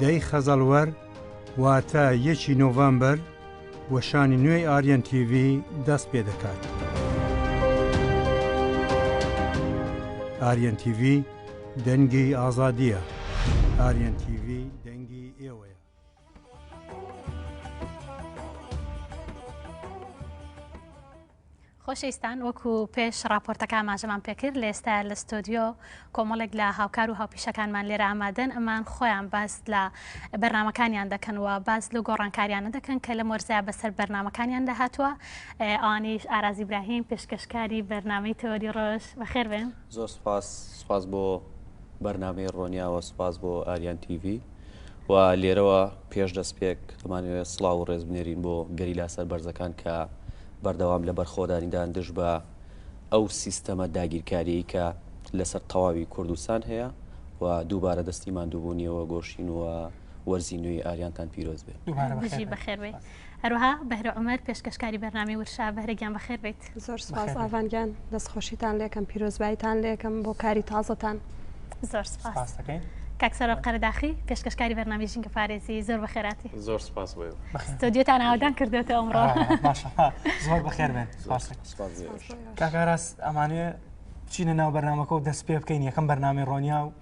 دەی خەزەڵوەر واتە یەکی نۆڤەمبەر وەشانی نوێی ئاریەن تیڤی دەست پێ دەکات. ئاریەن تیڤی دەنگی ئازادیە. ئاریەن تیڤی دەنگی ئێوەیە. خۆشەویستان وەکو پێش ڕاپۆرتەکە ئاماژەمان پێکرد لە ئێستا لە ستۆدیۆ کۆمەڵێک لە هاوکار و هاوپیشەکانمان لێرە ئامادەن ئەمان خۆیان باس لە بەرنمەکانیان دەکەن و باس لە گۆڕانکاریانە دەکەن کە لە مۆرزای بەسەر بەرنمەکانیان داهاتوە ئەوانیش ئارازی براهیم پێشکەشکاری بەرنمەی تەوەری ڕۆژ بەخێربێن. زۆر سوپاس سوپاس بۆ بەرنامەی ڕۆنیا و سوپاس بۆ ئاریان تیڤی و لێرەوە پێش دەست پێک دەمانەوێت سڵاو و ڕێز بنێرین بۆ گەریلا سەربەرزەکان کە بەردەوام لە بەرخۆدانیدان دژ بە ئەو سیستەمە داگیرکاریی کە لەسەر تەواوی کوردستان هەیە و دووبارە دەستی ماندووبوونیەوە گۆشین و وەرزی نوێی ئاریانتان پیرۆز بێت بژی بەخێر بێت هەروها بەهرە عمر پێشکەشکاری بەرنامی ورشا بەرەگیان بەخێر بێت زۆر سپاس ئاڤانگیان دەست خۆشیتان لێکم پیرۆزبایتان لێکم بۆ کاری تازەتان زۆر سپاس دەکەین کاکسەرۆ قەرداخی پێشکەشکاری بەرنامی ژینگە پارێزی زۆر بەخێراتی زۆر سپاس ستۆدیۆتان ئاودان کردێتە ئەمڕۆ زۆر بەخێر بێن کاکاراس ئەمانێ چینە ناو بەرنمەکە و دەست پێ بکەین یەکەم بەرنامی ڕۆنیا و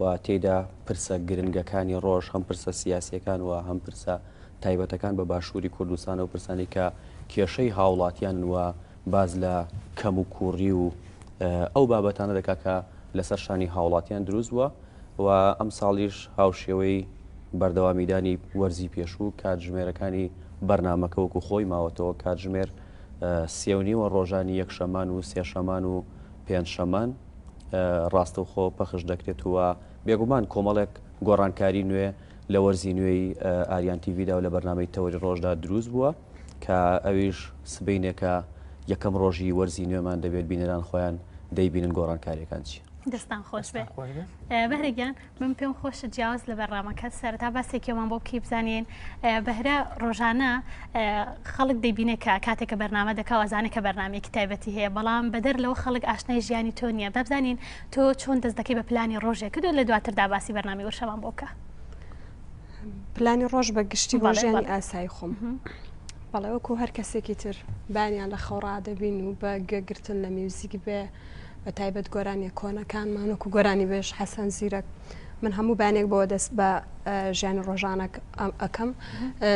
و تێیدا پرسە گرنگەکانی ڕۆژ هەم پرسە سیاسیەکان و هەم پرسە تایبەتەکان بە باشووری کوردستان و پرسانی کە کێشەی هاوڵاتیان و باز لە کەم و کوڕی و ئەو بابەتانە دەکا کە لەسەر شانی هاوڵاتیان دروست بووە و ئەم ساڵیش هاوشێوەی بەردەوامیدانی وەرزی پێشوو کاتژمێرەکانی بەرنمەکە وەکو خۆی ماوەتەوە کاتژمێر سێونیوە ڕۆژانی یەکشەمان و سێشەمان و پێنج شەمان ڕاستەوخۆ پەخش دەکرێت و بێگومان کۆمەڵێک گۆڕانکاری نوێ لە وەرزی نوێی ئاریان تیڤدا و لە بەرنمەی تەوەری ڕۆژدا دروست بووە کە ئەویش سبینێکە یەکەم ڕۆژی وەرزی نوێمان دەبێت بینەران خۆیان دەیبینن گۆڕانکاریەکان چی دەستان خۆش بێت بەهرەگیان من پێم خۆشە جیاواز لە بەرنامەکە سەرەتا باسێکیەمان بۆ بکەی بزانین بەهرە ڕۆژانە خەڵک دەبینێت کە کاتێکە بەرنامە دەکاو ئەزانێت کە بەرنمێکی تایبەتی هەیە بەڵام بەدەر لەوە خەڵک ئاشنای ژیانی تۆ نییە بابزانین تۆ چۆن دەست دەکەی بە پلانی ڕۆژێک کردو لە دواتردا باسی بەرنامی وشەمان بۆکە پلانی ڕۆژ بە گشتی بۆ ژیانی ئاسای خۆم بەڵێ وەکو هەر کەسێکی تر بانیان لە خەوڕا دەبین و بە گوێگرتن لە میوزیک بێ بە تایبەت گۆرانیە کۆنەکانمان وەکو گۆرانی بێژ حەسەن زیرەک من هەموو بانێک بۆ دەست بە ژیانی ڕۆژانە ئەەکەم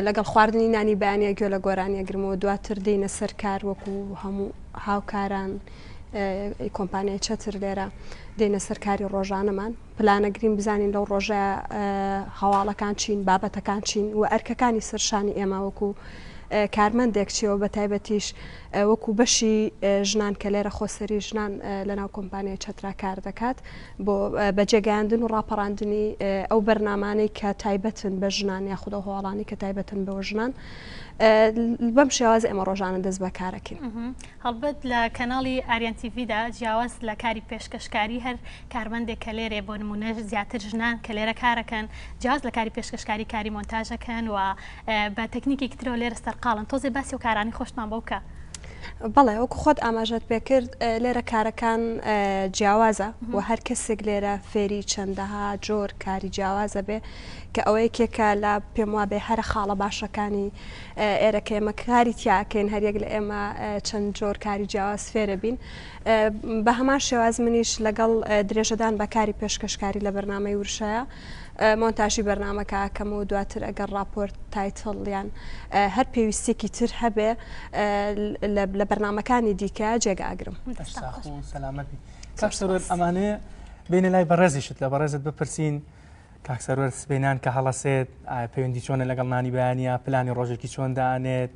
لەگەڵ خواردنی نانی بانە گوێ لە گۆرانیە گرمەوە دواتر دینە سەر کار وەکو هەموو هاوکاران کۆمپانیای چەتر لێرە دێنە سەرکاری ڕۆژانەمان پلانەگرین بزانین لەو ڕۆژە هەواڵەکان چین بابەتەکان چین و ئەرکەکانی سەرشانی ئێمە وەکو کارمەندێک چیەوە بە تایبەتیش وەکو بەشی ژنان کە لێرە خۆسەری ژنان لەناو کۆمپانیای چەترا کار دەکات بۆ بەجێگەیاندن و ڕاپەڕاندنی ئەو بەرنامانەی کە تایبەتن بە ژنان یاخودە هۆڵانی کە تایبەتن بەوە ژنان بەم شێوازە ئێمە ڕۆژانە دەست بەکارەکەین هەڵبەت لە کەناڵی ئاریانتیڤدا جیاواز لە کاری پێشکەشکاری هەر کارمەندێک کە لێرێ بۆ نمونەش زیاتر ژنان کە لێرە کارەکەن جیاز لە کاری پێشکەشکاری کاری مۆنتاژەکەن و بە تەکنیکێکی ترەوە لێرە سەرقاڵن، تۆزێ باسی ئەو کارانەی خۆشتمان بۆ بکە. بەڵێ وەکو خۆت ئاماژەت پێکرد لێرە کارەکان جیاوازە و هەر کەسێک لێرە فێری چەندەها جۆر کاری جیاوازە بێ کە ئەوە یەکێکە لە پێم وابێ هەرە خاڵە باشەکانی ئێرە کە ئێمە کاری تیاکەین هەریەک لە ئێمە چەند جۆر کاری جیاواز فێرە بین بە هەمان شێواز منیش لەگەڵ درێژەدان بەکاری پێشکەشکاری لە بەرنمەی ورشەیە مۆنتاژی بەرنامەکە ئەکەم و دواتر ئەگەر ڕاپۆرت تایتڵ یان هەر پێویستێکی تر هەبێ لە بەرنمەکانی دیکە جێگە ئاگرم ئەمانەیە بینە لای بەڕێزیشت لە بەڕێزت بپرسین کاکسەرەر سبینان کە هەڵەسێت پەیوەندی چۆنە لەگەڵ نانی بەیانە پلانی ڕۆژێکی چۆن دانێت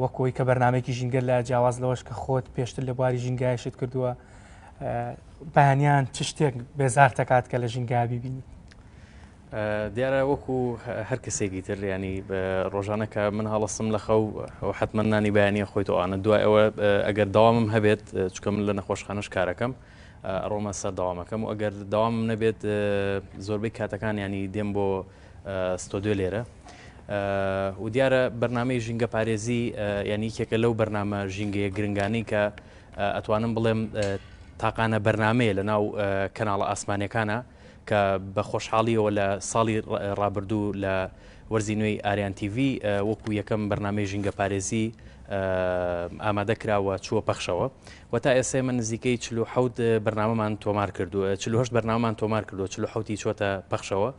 وەکۆی کە بەرنمێکی ژینگە لە جیاواز لەوەش کە خۆت پێشتر لە بواری ژینگایشت کردووە بەیانیان چ شتێک بێزار دەکات کە لە ژینگە بیبینی دیارە وەکو هەر کەسێکی تر ینی ڕۆژانەکە من هەڵستم لە خەو ئەو حتممە نانی بەیانە خۆی تۆوانە دوای ئەوە ئەگەر داوامم هەبێت چکە من لە نەخۆشخانەش کارەکەم ڕۆمە سەر داوامەکەم و ئەگەر داوام نەبێت زۆربەی کاتەکان ینی دێم بۆ ستۆدیۆ لێرە و دیارە بەرنمەی ژینگە پارێزی یعنی یەکێکە لەو بەرنمە ژینگەیە گرنگانی کە ئەتوانم بڵێم تاقانە بەرنامەیە لە ناو کەناڵە ئاسمانەکانە کە بە خۆشحاڵیەوە لە ساڵی ڕابردوو لە وەرزی نوێی ئاریان تیV وەکو یەکەم بەرنمەی ژینگە پارێزی ئامادە کراوە چووە پەخشەوە و تا ئێسێ من نزیکەی چ حوت بەرنامەمان تۆمار کردووە چهشت بەرنامان تۆمار کردو چ حوتی چۆتە پەخشەوە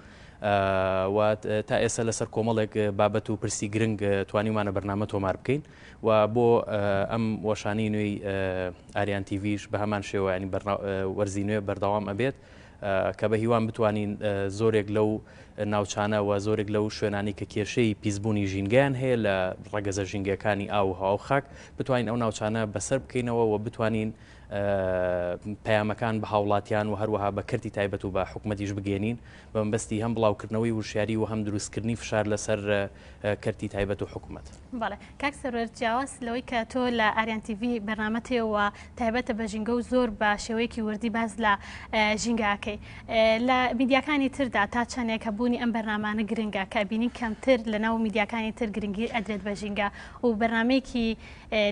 و تا ئێستا لەسەر کۆمەڵێک بابەت و پرسی گرنگ توانیمانە بەرنامە تۆمار بکەین و بۆ ئەم وەشانی نوێی ئاریان تیڤیش بە هەمان شێوە ینی وەرزی نوێ بەردەوام ئەبێت کە بە هیوام بتوانین زۆرێک لەو ناوچانە و زۆرێک لەو شوێنانی کە کێشەی پیسبوونی ژینگەیان هەیە لە ڕەگەزە ژینگەکانی ئاو هەوا و خاک بتوانین ئەو ناوچانە بەسەر بکەینەوە و بتوانین پەیامەکان بە هاوڵاتیان و هەروەها بە کردی تایبەت و بە حکوومەتیش بگەێنین بەمبەستی هەم بڵاوکردنەوەی وشیاری و هەم دروستکردنی فشار لەسەر کەرتی تایبەت و حکومەت. بەڵێ کاک سەروەر جیاواز لەوەی کە تۆ لە ئاریان تیڤی بەرنامەت هەیە و تایبەتە بە ژینگە و زۆر بە شێوەیەکی وردی باس لە ژینگە ئەکەی لە میدیاکانی تردا تا چەندێک هەبوونی ئەم بەرنامانە گرنگە کە ئەبینین کەمتر لەناو میدیاکانی تر گرنگی ئەدرێت بە ژینگە و بەرنامەیەکی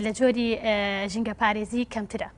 لە جۆری ژینگەپارێزی کەمترە؟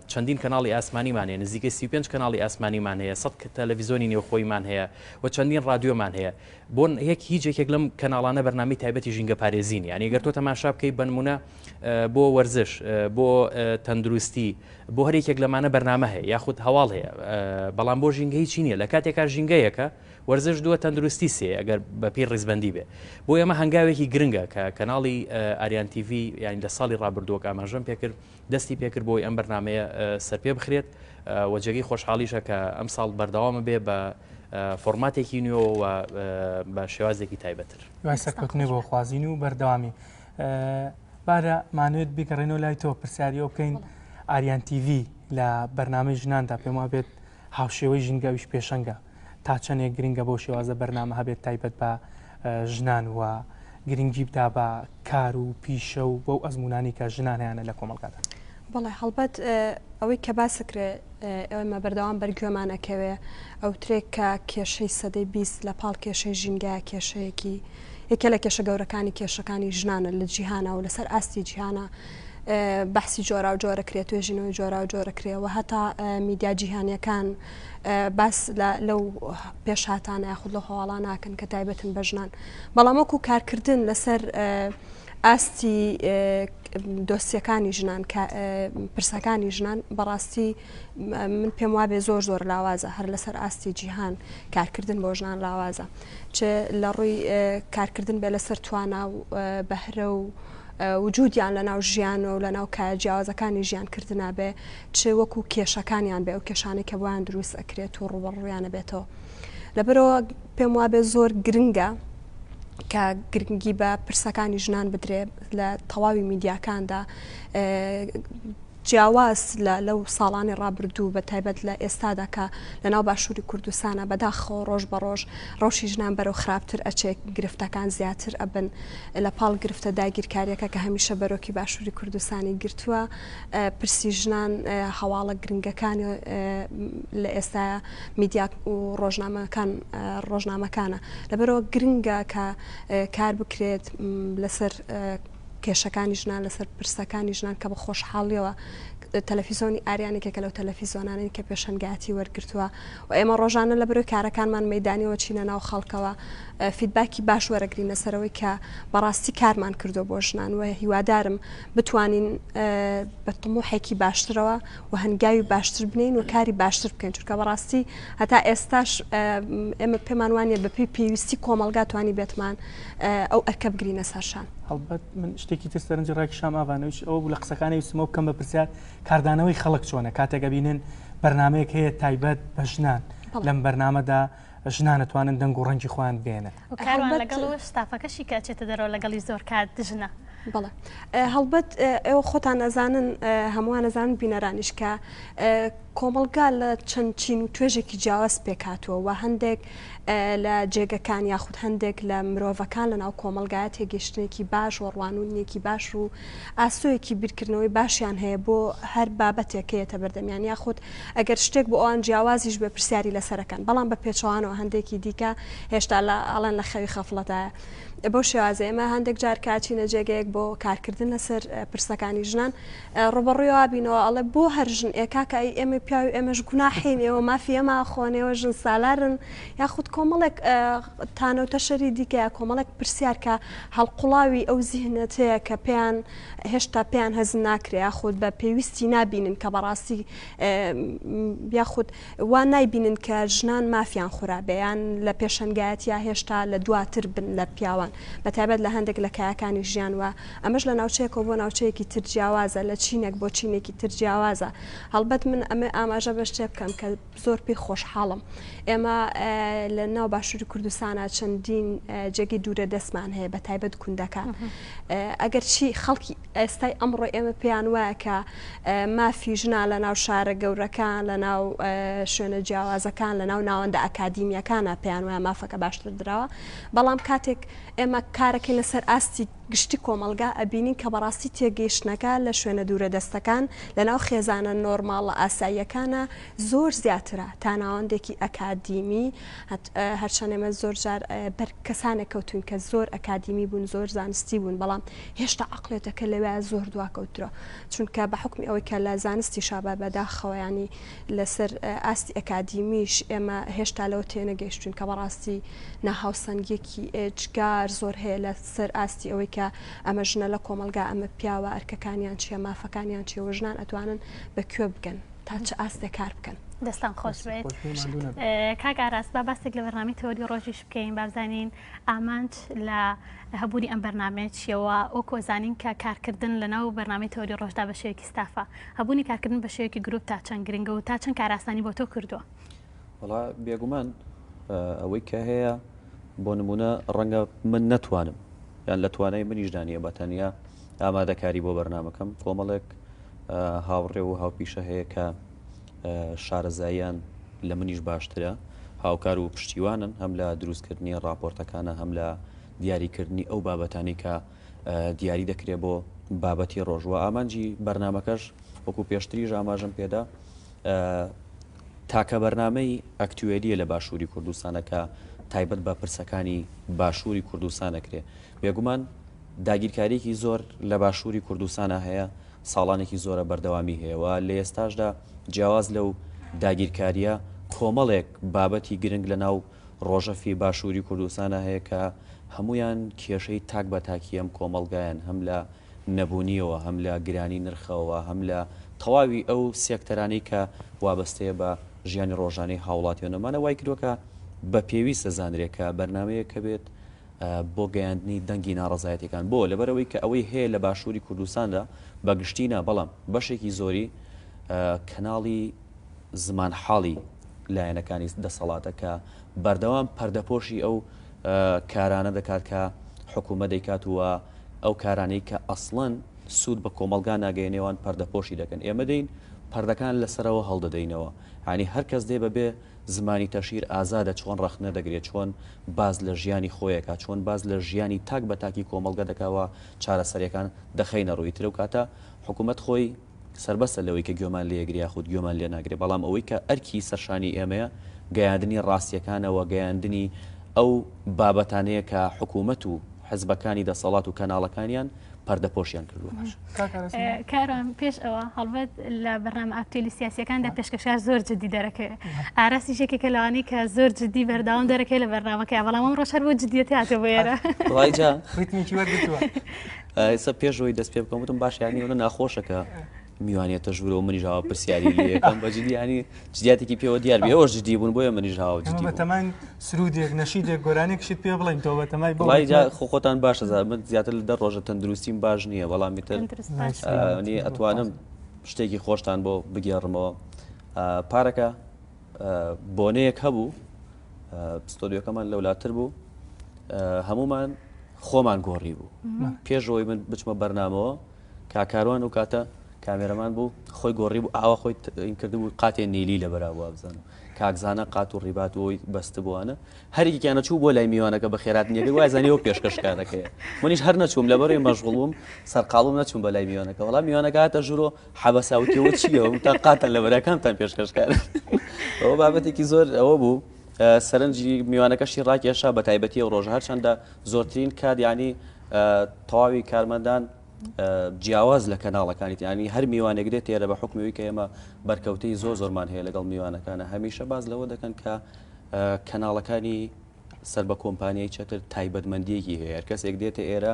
چەندین کەناڵی ئاسمانیمان هەیە، نزیکەی سی و پێنج کەناڵی ئاسمانیمان هەیە، سەد تەلەڤیزۆنی نێوخۆییمان هەیە و چەندین ڕادیۆمان هەیە. بۆ نهێک هیچ یەکێک لەم کەناڵانە بەرنامەی تایبەتی ژینگەپارێزی نییە. یانی گەر تۆ تەماشا بکەی بە نموونە بۆ وەرزش، بۆ تەندروستی، بۆ هەر یەکێک لەمانە بەرنامە هەیە یاخود هەواڵ هەیە. بەڵام بۆ ژینگە هیچی نییە. لە کاتێکا ژینگە یەکە، وەرزش دووە، تەندروستی سێیە گەر بە پێی ڕیزبەندی بێ. بۆ ئێمە هەنگاوێکی گرنگە کە کەناڵی ئاریان تیڤی یانی لە ساڵی ڕابردووەک ئاماژەم پێ کرد، دەستی پێکرد بۆی ئەم بەرنامەیە سەرپێ بخرێت و جێگەی خۆشحاڵیشە کە ئەم ساڵ بەردەوامە بێ بە فۆرماتێکی نوێەوە و بە شێوازێکی تایبەتر دوای سەرکەوتنی بۆ خوازین و بەردەوامی بارە مانوێت بیگەڕێنەوە لای تۆ پرسیاریەوە بکەین ئاریان تیڤ لە بەرنامەی ژناندا پێم وابێت هاوشێوەی ژینگە ئەویش پێشەنگە تا چەندێک گرنگە بەو شێوازە بەرنامە هەبێت تایبەت بە ژنان و گرنگی بدا بە کار و پیشە و بەو ئەزمونانی کە ژنان هەیەە لە کۆمەلگادا. بەڵێ هەڵبەت ئەوەی کە باسەکرێ ئێمە بەردەوام بەرگوێمان ئەکەوێ ئەو ترێک کە کێشەی سەدەی بیست لە پاڵ کێشەی ژینگە کێشەیەکی یەکێ لە کێشە گەورەکانی کێشەکانی ژنانە لە جیهانەوە لەسەر ئاستی جیهانە بەحسی جۆراو جۆر ئەکرێ توێژینەوەی جۆراو جۆر ئەکرێ و هەتا میدیا جیهانیەکان باس لەو پێشهاتانە یاخود لە هەواڵا ناکەن کە تایبەتن بە ژنان بەڵام وەکو کارکردن لەسەر ئاستی دۆسیەکانی ژنان پرسەکانی ژنان بەڕاستی من پێم وابێ زۆر زۆر لاوازە هەر لەسەر ئاستی جیهان کارکردن بۆ ژنان لاوازە. چ لە ڕووی کارکردن بێ لەسەر توانا و بەهرە و وجودیان لە ناو ژیان و لە ناو کە جیاوازەکانی ژیان کردنابێ چ وەکو کێشەکانیان بێ ئەو کێشانی کە بۆیان دروست ئەکرێت و ڕوبەڕویانە بێتەوە لەبەرەوە پێم وابێ زۆر گرنگە کە گرنگی بە پرسەکانی ژنان بدرێ لە تەواوی میدیاکاندا جیاواز لە لەو ساڵانی ڕابردوو بە تایبەت لە ئێستادا کە لە ناو باشووری کوردستانا بە داخەوە ڕۆژ بە ڕۆژ ڕەوشی ژنان بەرەو خراپتر ئەچێ گرفتەکان زیاتر ئەبن لە پاڵ گرفتە داگیرکاریەکە کە هەمیشە بەرۆکی باشووری کوردستانی گرتووە پرسی ژنان هەواڵە گرنگەکانی لە ئێستا میدیا و ڕۆژنامەکان ڕۆژنامەکانە لەبەرەوە گرنگە کە کار بکرێت لەسەر کێشەکانی ژنان لەسەر پرسەکانی ژنان کە بە خۆشحاڵیەوە تەلەفیزۆنی ئاریان یەکێکە لەو تەلەفیزۆنانین کە پێشەنگاتی وەرگتووە و ئێمە ڕۆژانە لە بەرەوەی کارەکانمان مەدانیەوە چینە ناو خەڵکەوە فیدباکی باش وەرەگرین لەسەرەوەی کە بەڕاستی کارمان کردو بۆ ژنان و هیوادارم بتوانین بە تموحێکی باشترەوە و هەنگاوی باشتر بنێین و کاری باشتر بکەین چونکە بەڕاستی هەتا ئێستاش ئێمە پێمان وانە بەپی پێویستی کۆمەلگا توانی بێتمان ئەو ئەرکە بگرینە سەرشان هەڵبەت من شتێکی تر سەرنج ڕێک شام ئاوانەویش ئەو لە قسەکانی وسمە بکەم بە پرسیار کاردانەوەی خەڵک چۆنە کاتێکە بینن بەرنمەیەک هەیە تایبەت بە ژنان لەم بەرنمەدا ژنان ئەتوانن دەنگ و ڕەنگی خۆیان بێنن. و کاروان لەگەڵ و ستافەکەشی کە ئەچێتە دەرەوە لەگەڵی زۆر کات دژنە. بەڵێ هەڵبەت ئێوە خۆتان ئەزانن هەمووان ئەزانن بینەرانیش کە کۆمەڵگا لە چەند چین و توێژێکی جیاواز پێکاتوە و هەندێک لە جێگەکان یاخود هەندێک لە مرۆڤەکان لە ناو کۆمەلگایە تێگەشتنێکی باش و ڕوانونیەکی باش و ئاسۆیەکی بیرکردنەوەی باشیان هەیە بۆ هەر بابەتێک کە یەتە بەردەمیان یاخود ئەگەر شتێک بۆ ئەوان جیاوازیش بێ پرسیاری لەسەرەکەن بەڵام بە پێچەوانەوە هەندێکی دیکە هێشتا لە ئاڵەن لە خەوی خەفڵەتایە بەو شێوازە ئێمە هەندێک جار کاچینە جێگەیەک بۆ کارکردن لەسەر پرسەکانی ژنان ڕوبەڕویەوە بینەوە ئەڵێ بۆ هەر ژن ئێکاکایی ئێمە پیاوی ئێمەش گوناحین ئێوە مافیەما خۆنێەوە ژن سالارن یاخود کۆمەڵێک تانە و تەشەری دیکە یا کۆمەڵێک پرسیار کە هەڵقوڵاوی ئەو زیهنەتەیە کە پێیان هێشتا پێیان هەزم ناکرێ یاخود بە پێویستی نابینن کە بەڕاستی یاخود وا نایبینن کە ژنان مافیان خورابێیان لە پێشەنگایەت یا هێشتا لە دواتر بن لە پیاوان بە تایبەت لە هەندێک لە کایەکانی ژیان وە ئەمەش لە ناوچەیەکەوە بۆ ناوچەیەکی تر جیاوازە لە چینێک بۆ چینێکی تر جیاوازە هەڵبەت من ئەمە ئاماژە بە شتێ بکەم کە زۆر پێی خۆشحاڵم ئێمە لە ناو باشووری کوردستانە چەندین جێگەی دوورە دەستمان هەیە بە تایبەت کوندەکان ئەگەر چی خەڵکی ئێستای ئەمڕۆ ئێمە پێیان وایە کە مافی ژنا لە ناو شارە گەورەکان لە ناو شوێنە جیاوازەکان لە ناو ناوەندە ئەکادیمیەکانە پێیان وایە مافەکە باشتر درراوە بەڵام کاتێک ئێمە کارەکەی لەسەر ئاستی گشتی کۆمەڵگا ئەبینین کە بەڕاستی تێگەیشتنەکە لە شوێنە دوورەدەستەکان لەناو خێزانە نۆرماڵە ئاساییەکانا زۆر زیاترە تا ناوەندێکی ئەکادیمی هەرچەند ئێمە زۆر جار بەر کەسانێک کەوتوین کە زۆر ئەکادیمی بوون زۆر زانستی بوون بەڵام هێشتا عقلێتەکە لەوێ زۆر دوا کەوترە چونکە بە حکمی ئەوەی کە لە زانستی شابە بەداخەوەیانی لەسەر ئاستی ئەکادیمیش ئێمە هێشتا لەوە تێنەگەیشتوین کە بەڕاستی ناهاوسەنگیەکی ئێجگار زۆر هەیە لە سەر ئاستی ئەوەی کە ئەمە ژنە لە کۆمەڵگا، ئەمە پیاوە، ئەرکەکانیان چییە، مافەکانیان چییە و ژنان ئەتوانن بە کوێ بگەن، تا چ ئاستێک کار بکەن. دەستان خۆش بێت. کاک ئاراس با باسێک لە بەرنامەی تەوەری ڕۆژیش بکەین، با بزانین ئامانج لە هەبوونی ئەم بەرنامەیە چییە و وەکو ئەزانین کە کارکردن لەناو بەرنامەی تەوەری ڕۆژدا بە شێوەیەکی ستافە، هەبوونی کارکردن بە شێوەیەکی گروپ تا چەند گرنگە و تا چەند کارئاسانی بۆ تۆ کردووە؟ وەڵا بێگومان ئەوەی کە هەیە بۆ نمونە ڕەنگە من نەتوانم یان لە توانای منیشدا نیە بە تەنیا ئامادەکاری بۆ بەرنمەکەم کۆمەڵێک هاوڕێ و هاوپیشە هەیە کە شارەزاییان لە منیش باشترە هاوکار و پشتیوانن هەم لە دروستکردنی راپۆرتەکانە هەم لە دیاریکردنی ئەو بابەتانی کە دیاری دەکرێت بۆ بابەتی ڕۆژوە ئامانجی بەرنمەکەش وەکو پێشتریش ئاماژم پێدا تاکە بەرنامەی ئەکتوێلیە لە باشوری کوردستانە کە تایبەت بە پرسەکانی باشوری کوردستان ئەکرێ بێگومان داگیرکاریکی زۆر لە باشوری کوردستانە هەیە ساڵانێکی زۆرە بەردەوامی هەیەوە لە ئێستاشدا جیاواز لەو داگیرکاریە کۆمەڵێک بابەتی گرنگ لە ناو ڕۆژەفی باشوری کوردستانە هەیە کە هەمویان کێشەی تاک بە تاکیم کۆمەڵگایان هەم لە نەبوونیەوە، هەم لە گرانی نرخەوە، هەم لە تەواوی ئەو سێکتەرانەی کە وابەستەیە بە ژیانی ڕۆژانەی هاوڵاتیانەمانە وای کردووە کە بە پێویست دەزانرێت کە بەرنامەیەک هەبێت بۆ گەیاندنی دەنگی ناڕەزایەتیەکان بۆ لەبەرەوەی کە ئەوەی هەیە لە باشووری کوردستاندا بە گشتی نا بەڵام بەشێکی زۆری کەناڵی زمانحاڵی لایەنەکانی دەسەڵاتە کە بەردەوام پەردەپۆشی ئەو کارانە دەکات کە حکوومە دەیکات و ئەو کارانەی کە ئەسڵەن سوود بە کۆمەلگا ناگەێنێوان پەردەپۆشی دەکەن ئێمە دەین پەردەکان لەسەرەوە هەڵدەدەینەوە ینی هەرکەس دێ بەبێ زمانی تەشیر ئازادە چۆن ڕەخنە دەگرێت چۆن باز لە ژیانی خۆیەکە چۆن باز لە ژیانی تاک بە تاکی کۆمەلگە دەکەوە چارەسەرەکان دەخینە ڕووی ترو کاتە حکوومەت خۆی سەربەستە لەوەی کە گوێمان لێگرێ یاخود گوێمان لێ ناگرێ، بەڵام ئەوەی کە ئەرکی سەرشانی ئێمەیە گەیاندنی ڕاستییەکانە و گەیاندنی ئەو بابەتانەیە کە حکوومەت و حزبەکانی دەسەڵات و کەناڵەکانیان پەردەپۆشیان کردووە. باشە. کاک ئارەس من. ئێ، کارام، پێش ئەوە، هەڵبەت لە بەرنامە ئاکتوێلی و سیاسییەکاندا پێشکەشکار زۆر جددی دەرەکەوێ. ئاراسیش یەکێکە لەوانەی کە زۆر جددی بەردەوام دەرەکەوێ لە بەرنامەکەیا، بەڵام ئەمڕۆش هەر بۆ جددییەتی هاتووە بۆ ئێرە. وای جا. ڕیتمێکی وەرگرتووە. ئێستا پێش ئەوی دەست پێ بکەم وتم باش یانی ئەوە ناخۆشە کە میوانێتە ژوورەوە منیش هاوا پرسیاری لەکەم بەجدی ینی جدیاتێکی پێوە دیار بێ ئەوەش جدی بوون بۆیە منیش هاوا جدی بە تەمان سرودێک نەشی دێک گۆرانێکشت پێ بڵین تۆ بە تەمای بڵای جا خۆتان باشە زار من زیاتر لە دە ڕۆژە تەندروستیم باش نییە وەڵامی تر ئەتوانم شتێکی خۆشتان بۆ بگێڕمەوە پارەکە بۆنەیەک هەبوو ستۆدیۆکەمان لەولاتر بوو هەمومان خۆمان گۆڕی بوو پێش ئەوەی من بچمە بەرنامەوە کاکاروان و کاتە کامێرەمان بوو خۆی گۆڕی بوو ئاوا خۆی کرد بوو قاتێ نیلی لە بەرا بووە بزانم کاکزانە قات و ڕیبات بۆی بەست بووانە هەرێکیانە چوو بۆ لای میوانەکە بە خێرات نیەکە وایزانەوە پێشکەشکارەکەی منیش هەر نەچووم لە بەرەی مەژغڵوم سەرقاڵم نەچوم بە لای میوانەکە وڵا میوانەکاتە ژورۆ حەبەساوتەوە چیەوە تا قاتە لە بەرەکانتان پێشکەشکار ئەوە بابەتێکی زۆر ئەوە بوو سەرنجی میوانەکەشی ڕاکێشا بە تایبەتی ئەو ڕۆژە هەرچەندە زۆرترین کات یانی تەواوی کارمەندان جیاواز لە کەناڵەکانیت ینی هەر میوانێگرێت تێرە بە حکمەوەی کە ئێمە بەرکەوتەی زۆر زۆرمان هەیە لەگەڵ میوانەکانە هەمیشە باز لەوە دەکەن کە کەناڵەکانی سەر بە کۆمپانیای چەتر تایبەتمەندیەکی هەیە کەسێک دێتە ئێرە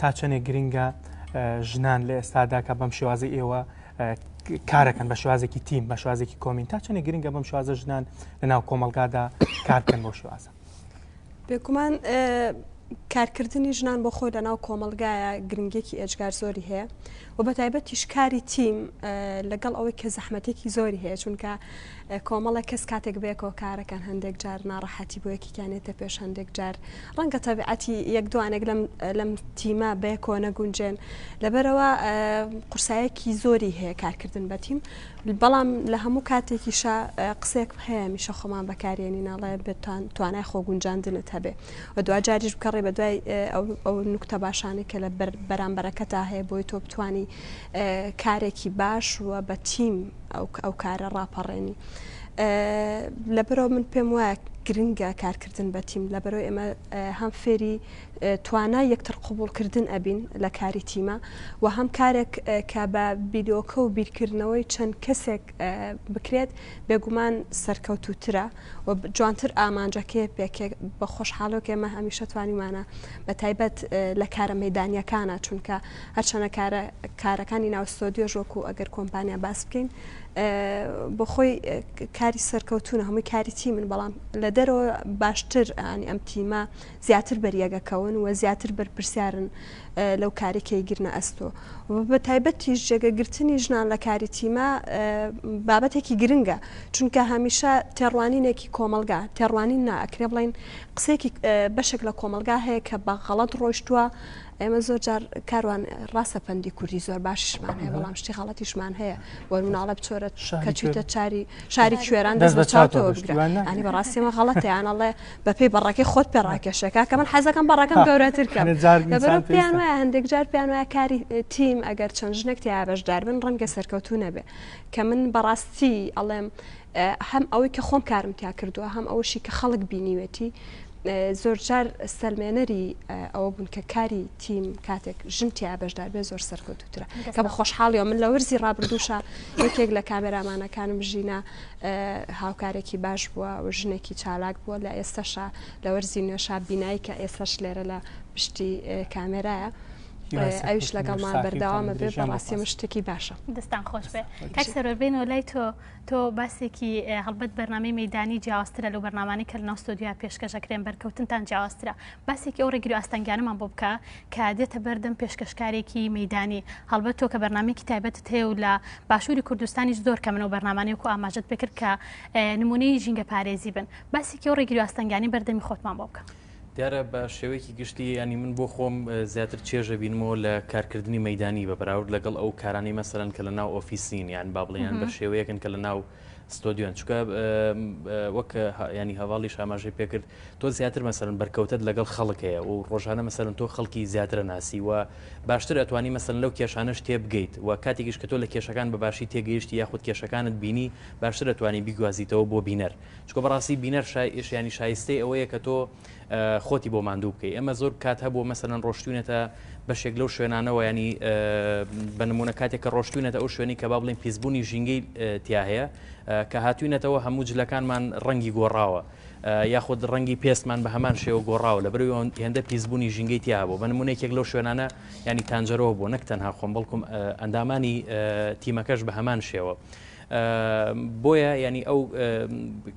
تا چەنێک گرنگە ژنان لە ئێستادا کە بەم شێوازی ئێوە کارەکەن بە شوازێکی تیم بە شوازێکی کۆمین تا چەنێک گرنگە بەم شوازە ژنان لە ناو کۆمەلگادا کارکەن بۆ شوازە بێکومان کارکردنی ژنان بۆ خۆی لەناو کۆمەلگایە گرنگێکی ئێجگار زۆری هەیە و بە تایبەتیش کاری تیم لەگەڵ ئەوەی کە زەحمەتێکی زۆری هەیە چونکە کۆمەڵێک کەس کاتێک بەیەکەوە کارەکەن هەندێک جار ناڕەحەتی بۆ یەکێکیان دێتە پێش هەندێک جار ڕەنگە تەبیعەتی یەک دوانێک لەم لەم تیمە بەیەکەوە نەگونجێن لەبەرەوە قورسایەکی زۆری هەیە کارکردن بە تیم بەڵام لە هەموو کاتێکیشە قسێک هەیە میشە خۆمان بەکارێنی ناڵێ بێتان توانای خۆگونجاندنت هەبێ و دواجاریش بکەڕێ بە دوای ئەو نوکتە باشانەی کە لە بەرامبەرەکەتا هەیە بۆی تۆ بتانی کارێکی باش و بە تیم ئەو کارە ڕاپەڕێنی لەبەرەوە من پێم وایە گرنگە کارکردن بە تیم لەبەرەوە ئێمە هەم فێری توانای یەکتر قوبولکردن ئەبین لە کاری تیمە و هەم کارێک کە بە بیدۆکە و بیرکردنەوەی چەند کەسێک بکرێت بێگومان سەرکەوتوترە و جوانتر ئامانجەکەی پێکێک بە خۆشحاڵۆکێمە هەمیشە توانیمانە بە تایبەت لە کارە مەدانیەکانە چونکە هەرچەنە کارە کارەکانی ناو ستۆدیۆش وەکو ئەگەر کۆمپانیا باس بکەین بۆ خۆی کاری سەرکەوتونە هەمووی کاری تی من بەڵام لە دەرەوە باشتر ئەنی ئەم تیمە زیاتر بەریەگەکەون و زیاتر بەرپرسیارن لەو کارێکی گرنە ئەستۆ بە تایبەتیش جێگەگرتنی ژنان لە کاری تیمە بابەتێکی گرنگە چونکە هەمیشە تێڕوانینێکی کۆمەلگا تێڕوانین ناکرێ بڵین قسێکی بەشێک لە کۆمەلگا هەیە کە بە غەڵت ڕۆشتووە ئێمە زۆر جار کاروان ڕاستە پەندی کوردی زۆر باشمان هەیە بەڵام شتی خاڵەتیشمان هەیە وەرمناڵە بچۆرە کەچیتە چاری شاری کوێران دەست بە چاوتەوە بگرانی بەڕاستیمە غڵەتیانەڵێ بەپی بەڕەکەی خۆت پێ ڕاکێشەکە کە من حەزەکەم بەڕەکەم گەورەتر کەم پێیان وایە هەندێک جار پێیان وایە کاری تیم ئەگەر چەند ژنێک تیا بەشدار بن ڕەنگە سەرکەوتو نەبێ کە من بەڕاستی ئەڵێم هەم ئەوەی کە خۆم کارم تیا کردووە هەم ئەوەشی کە خەڵک بینیوێتی زۆرجار سەلمێنەری ئەوە بوون کە کاری تیم کاتێک ژن تیا بەشدار بێ زۆر سەرکەوتوترە کە بە خۆشحاڵی من لە ورزی ڕابردووشە یەکێک لە کامێرامانەکانم ژینە هاوکارێکی باش بووە و ژنێکی چالاک بووە لە ئێستاشا لە ورزی نوێشا بینایی کە ئێستاش لێرە لە پشتی کامێرایە. ئەوش لەگەڵمان بەرداوامە بێ بەڕاستی مشتێکی باشە دەستان خۆش بێ کاک سەرۆر بێنەوە لای تۆ تۆ باسێکی هەڵبەت بەرنامەی مەدانی جیاوازترە لەو بەرنامانەی کە لەناو ستۆدیویا پێشکەش ئەکرێن بەرکەوتنتان جیاوازترە باسێکی ئەو ڕێگری و ئاستەنگیانەمان بۆ بکە کە دێتە بەردەم پێشکەشکارێکی مەدانی هەڵبەت تۆ کە بەرنمێکی تایبەتت هەیە و لە باشووری کوردستانی زۆر کە منەوە بەرنمانێک و ئاماژت بکرد کە نمونەی ژینگە پارێزی بن باسێکی ئەو ڕێگری و ئاستەنگیانی بەردەمی خۆتمان بۆ بکە دیارە بە شێوەیەکی گشتی ینی من بۆ خۆم زیاتر چێژە بینمەوە لە کارکردنی مەدانی بە بەراورد لەگەڵ ئەو کارانی مەسەرەن کە لە ناو ئۆفیسین یان با بڵێن بە شێوەیەکن کە لە ناو ستۆدیۆن چکە وەک ینی هەواڵی شاماژەی پێکرد تۆ زیاتر مەسەرن بەرکەوتت لەگەڵ خەڵکەیە و ڕۆژانە مەسەرن تۆ خەڵکی زیاترە ناسی و باشتر ئەتوانی مەسەن لەو کێشانەش تێبگەیت و کاتێکیش کە تۆ لە کێشەکان بە باشی تێگەیشتی یاخود کێشەکانت بینی باشتر ئەتوانی بیگوازیتەوە بۆ بینەر چونکە بەڕاستی بینەر شایانی شایستەی ئەوەیە کە تۆ خۆتی بۆ ماندوو بکەی ئەمە زۆر کات هەبوو مەسەن ڕۆشتونێتە بەشێک لەو شوێنانەوە ینی بە نمونە کاتێک کە ڕۆشتونێتە ئەو شوێنی کە با بڵین پیسبوونی ژینگەی تیا هەیە کە هاتوینەتەوە هەموو جلەکانمان ڕەنگی گۆڕاوە. یاخود ڕەنگی پێستمان بە هەمان شێوە گۆڕاوە لە بەرەوە هێندە پیسبوونی ژینگەی تیا بوو بە نمونەیەکێک لەو شوێنانە ینی تانجەرەوە بوو نەک تەنها خۆم بەڵکم ئەندامانی تیمەکەش بە هەمان شێوە. بۆیە یانی ئەو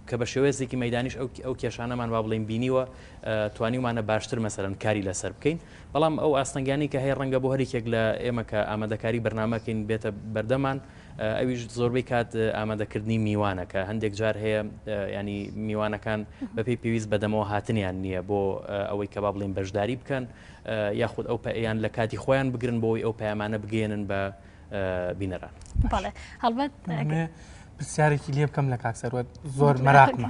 کە بە شێوەیەزیکی مەدانیش ئەو کێشانەمان با بڵین بینیوە توانیمانە باشتر مەسەرن کاری لەسەر بکەین بەڵام ئەو ئاستەنگانی کە هەیە ڕەنگە بۆ هەرێکێک لە ئێمە کە ئامادەکاری بەرنمەکەین بێتە بەردەمان ئەویش زۆربەی کات ئامادەکردنی میوانەکە هەندێک جار هەیە ینی میوانەکان بەپی پێویست بەدەمەوە هاتنیان نییە بۆ ئەوەی کە با بڵین بەشداری بکەن یاخود ئەو پەیان لە کاتی خۆیان بگرن بۆی ئەو پەیامانە بگەێنن بە بینەران پرسیارێکی لێ بکەم لە کاک سەروەت زۆر مەراقمە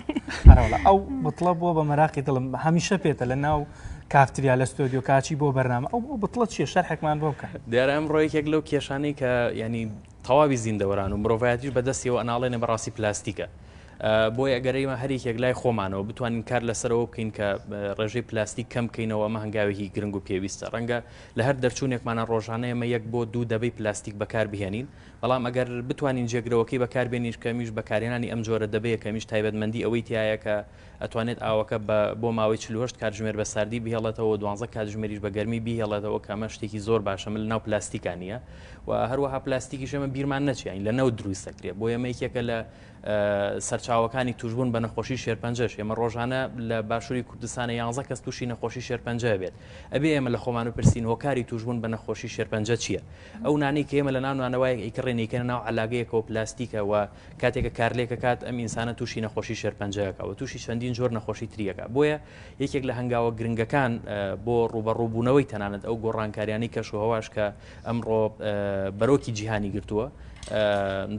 ئەو بتڵە بووە بە مەراقی دڵم هەمیشە پێێتە لە ناو کافتریا لە ستۆدیۆ کاچی بۆ بەرنامە ئەو بۆ بتڵە چیە شەر حکمان بۆ بکە دێرام ڕۆیەکێک لەو کێشانەی کە ینی تەواوی زیندەوەران و مرۆڤایەتیش بەدەستیەوە ئەناڵێنە بەڕاستی پلاستیکە بۆی ئەگەرەیمە هەریکێک لای خۆمانەوە بتوانین کار لەسەرەوە بکەین کە ڕێژەی پلاستی کەم بکەینەوە ئەمە هەنگاوێکی گرنگ و پێویستە ڕەنگە لە هەر دەرچوونێکمانا ڕۆژانە ئێمە یەک بۆ دوو دەبەی پلاستیک بەکار بهێنین، بەڵام ئەگەر بتوانین جێگرەوەکەی بەکار بێنین کە ئەمیش بەکارهێنانی ئەم جۆرە دەبەیە کە ئەمیش تایبەتمەندی ئەوەی تیایە کە ئەتوانێت ئاوەکە بە بۆ ماوەی چل و هەشت کاتژمێر بە ساردی بهێڵێتەوە و دوانزە کاتژمێریش بە گەرمی بیهێڵێتەوە کە ئەمە شتێکی زۆر باشە من لەناو پلاستیکا نییە و هەروەها پلاستیکیش ئێمە بیرمان نەچێ یانی لە نەوت دروست دەکرێ بۆیە ئەمە یەکێکە لە سەرچاوەکانی تووشبوون بە نەخۆشی شێرپەنجە شێمە ڕۆژانە لە باشووری کوردستانە یانزە کەس تووشی نەخۆشی شێرپەنجە بێت ئەبێ ئێمە لە خۆمان بپرسین هۆکاری تووشبوون بە نەخۆشی شێرپەنجە چییە ئەو نانی کە ئێمە لە ناو نانەوایەک ئیکڕێن ئیکەنە ناو عەلاگەیەکەوە پلاستیکە و کاتێکە کارلێکە کات ئەم ئینسانە تووشی نەخۆشی شێرپەنجەکە و تووشی چەندین جۆر نەخۆشی تریەکە بۆیە یەکێک لە هەنگاوە گرنگەکان بۆ ڕوبەڕووبوونەوەی تەنانەت ئەو گۆڕانکاریانی کەش و هەواش کە ئەمڕۆ بەرۆکی جیهانی گرتووە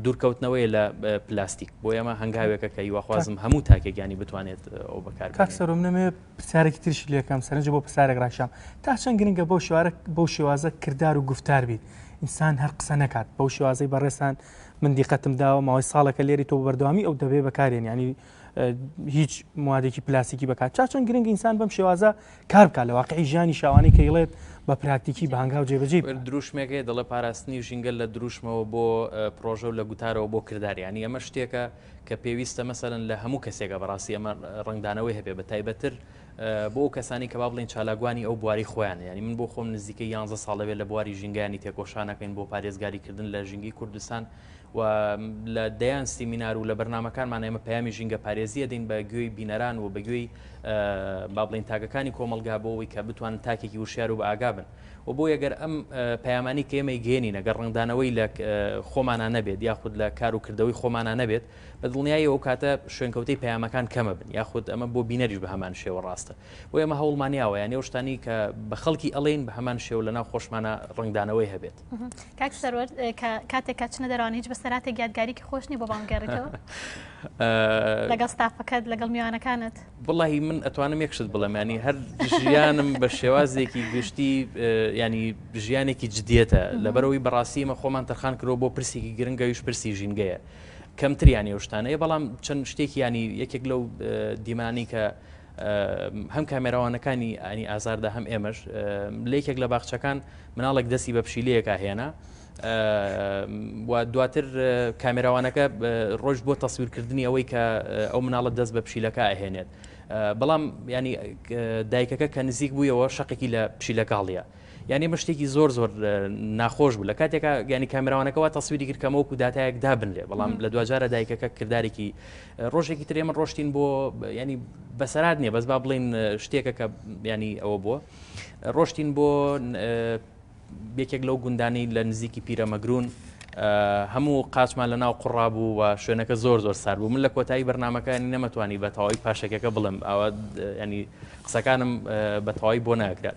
دوورکەوتنەوەی لە پلاستیک بۆ ئێمە هەنگاوێکە کە هیواخوازم هەموو تاکێکیانی بتوانێت ئەو بەکار کاک سەر منەمێ پرسیارێکی ترش لەکەم سەرنج بۆ پرسیارێک ڕاشام تا چەند گرنگە بۆ شوارە بەو شێوازە کردار و گفتار بیت ئینسان هەر قسە نەکات بەو شێوازەی بەڕێسان من دیقەتم داوە ماوەی ساڵەکە لێری تۆ بەردەوامی ئەو دەبێ بەکارێن ینی هیچ موادێکی پلاسیکی بکات چاچەند گرنگ ئینسان بەم شێوازە کار بکات لە واقعی ژیانی شاوانەی کە یڵێت بە پراکتیکی بانگا و جێبەجێ دروشمێکی دەڵێ پاراستنی و ژینگە لە دروشمەوە بۆ پرۆژە و لە گوتارەوە بۆ کرداریانی ئەمە شتێکە کە پێویستە مەسەرن لە هەموو کەسێکە بەڕاستی ئەمە ڕنگدانەوەی هەبێ بە تایبەتر بۆ کەسانی کە با بڵین چالاگوانی ئەو بواری خۆیان ینی من بۆ خۆم نزیکە یانزە ساڵەوێت لە بواری ژینگانی تێکۆشانەکەین بۆ پارێزگاریکردن لە ژینگی کوردستان و لە دەیان سیمینار و لە بەرنامەکانمان ئێمە پەیامی ژینگەپارێزی ئەدەین بە گوێی بینەران و بە گوێی با بڵێین تاکەکانی کۆمەڵگا بۆ ئەوەی کە بتوانن تاکێکی وشیار و بە ئاگا بن و بۆ یەگەر ئەم پەیامانی کە ئێمەی گەێنینە گەر ڕنگدانەوەی لە خۆمانە نەبێت یاخود لە کار و کردەوەی خۆمانە نەبێت بە دڵنیایی ئەو کاتە شوێنکەوتەی پەیامەکان کەمە بن یاخود ئەمە بۆ بینەریش بە هەمان شێوە ڕاستە و ئێمە هەوڵمانیاوە یان ئێوشتانی کە بە خەڵکی ئەڵین بە هەمان شێوە لە ناو خۆشمانە ڕنگدانەوەی هەبێت. کاک سەروەر کاتێک کاچنە دەرانی هیچ بەسەراتێک یادگاریکی خۆش نیە بۆ بام گەڕێتەوە لەگەڵ ستافەکەت لەگەڵ میوانەکانت بڵی من ئەتوانم یەکشت بڵێمانی هەر ژیانم بە شێوازێکی گشتی ینی ژیانێکی جدیەتە لەبەرەوەی بەڕاستیمە خۆمان تەرخان کرۆ بۆ پرسێکی گرنگەویش پرسی ژینگەیە کەمتریانی ئەوشتانەیە بەڵام چەند شتێکیانی یەکێک لەو دیمانی کە هەم کامێراوانەکانی ئانی ئازاردا هەم ئێمەش لە یەکێک لە باخچەکان مناڵێک دەستی بە پشیلەیەکە هێنا و دواتر کامێراوانەکە ڕۆژ بۆ تەسویرکردنی ئەوەی کە ئەو مناڵە دەست بە پشیلەکە ئەهێنێت بەڵام ینی دایکەکە کە نزیک بوویەوە شقێکی لە پشیلەکەڵە یانی ئەمە شتێکی زۆر زۆر ناخۆش بوو لە کاتێکا گەنی کامراوانەکەەوە تەسویری کرد کەمەوەکو دااتایەک دابنرێ بەڵام لە دوجارە دایکەکە کردارێکی ڕۆژێکی ترێ من ڕۆشتین بۆ ینی بەسەرات نییە بەس با بڵین شتێکە کە ینی ئەوە بووە ڕۆشتین بۆ یەکێک لەو گوندانی لە نزیکی پیرەمەگرون هەموو قاچمان لە ناو قڕا بوو و شوێنەکە زۆر زۆر سار بوو من لە کۆتایی بەرنمەکانی نەمەتوانی بە تەواوی پاشەکەەکە بڵم ئەوە ینی قسەکانم بە تەواوی بۆ ناکرات.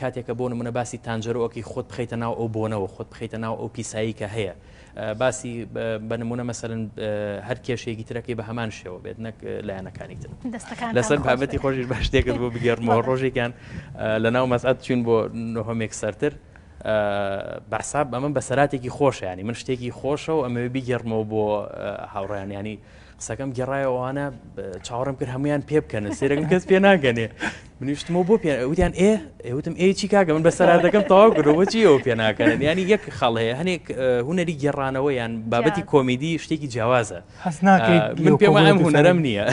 کاتێک کە بۆ نمونە باسی تانجەرۆ ئەکەی خۆت بخەیتە ناو ئەو بۆنەوە خۆت بخەیتە ناو ئەو پیسایی کە هەیە باسی بە نمونە مەسەرن هەر کێشێکی ترەکەی بە هەمان شێوە بێت نەک لایەنەکانی تر دەستەکان لەسەر دەستەکانتان بابەتی خۆش خۆشیش بە شتێکت بۆ بگێڕمەوە بەڵێ. ڕۆژێکیان اه، لە ناو مەسعد چوین بۆ نهۆمێک سەرتر اه، بەحساب ئەمە بەسەراتێکی خۆشە ینی من شتێکی خۆشە و ئەمەوێ بیگێڕمەوە بۆ اه، هاوڕێیان ینی قسەکەم گێڕایە ئەوانە چاوەڕم کرد هەمویان پێ بکەن سێرەکەم کەس پێ ناگەنێ منیشتمەوە بۆ پێ وتیان ئێ ئێوتم ئێ چی کاگە من بە سەراتەکەم تەواو گرەوە چی ئەو پێ ناکەن ینی یەک خەڵ هەیە هەنێک هوەری گێڕانەوە یان بابەتی کۆمیدی شتێکی جیاوازە حەز ناکەیت من پێم ئەم هوەرم نییە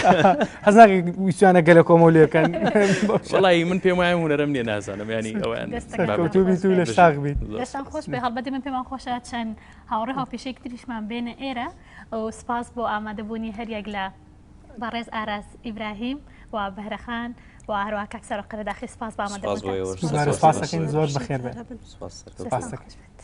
حەز ناکەیت ویسیانە گەلە کۆمەڵ لەکەن وڵی من پێم وایە هوەرم نیە نازانم ینی ئەویان لە شاخ بیت خۆش بێ هەڵبەتی من پێمان خۆشە چەند هاوڕێ هاوپێشێک تریشمان بێنە ئێرە سپاس بۆ ئامادە بوونی هەریەک لە بەڕێز ئاراس ئیبراهیم و بەهرە خان و هەروەها کاک سەرۆ قەرەداخی سپاس بۆ ئامادە سپاس بۆ بوونتان. ئێوەش دووبارە سپاس سپاس دەکەین زۆر بە خێر بێن سپاس سەرکەوتوو سپاس دەستتان دەکەین خۆش بێت.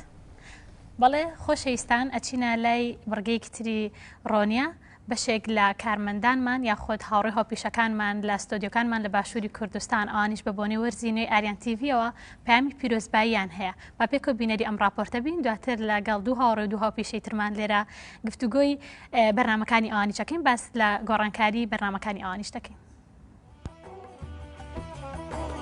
بەڵێ خۆشەویستان ئەچینە لای بڕگەیەکی تری ڕۆنیە بەشێک لە کارمەندانمان یاخود هاوڕێ هاوپیشەکانمان لە ستۆدیۆکانمان لە باشووری کوردستان ئەوانیش بە بۆنەی وەرزی نوێی ئاریان تیڤییەوە پەیامی پیرۆزباییان هەیە با پێکەوە بینەری ئەم ڕاپۆرتە بین دواتر لە گەڵ دوو هاوڕێ و دوو هاوپیشەی ترمان لێرە گفتوگۆی بەرنمەکانی ئەوانی چەکەین باس لە گۆڕانکاری بەرنمەکانی ئەوانیش دەکەین.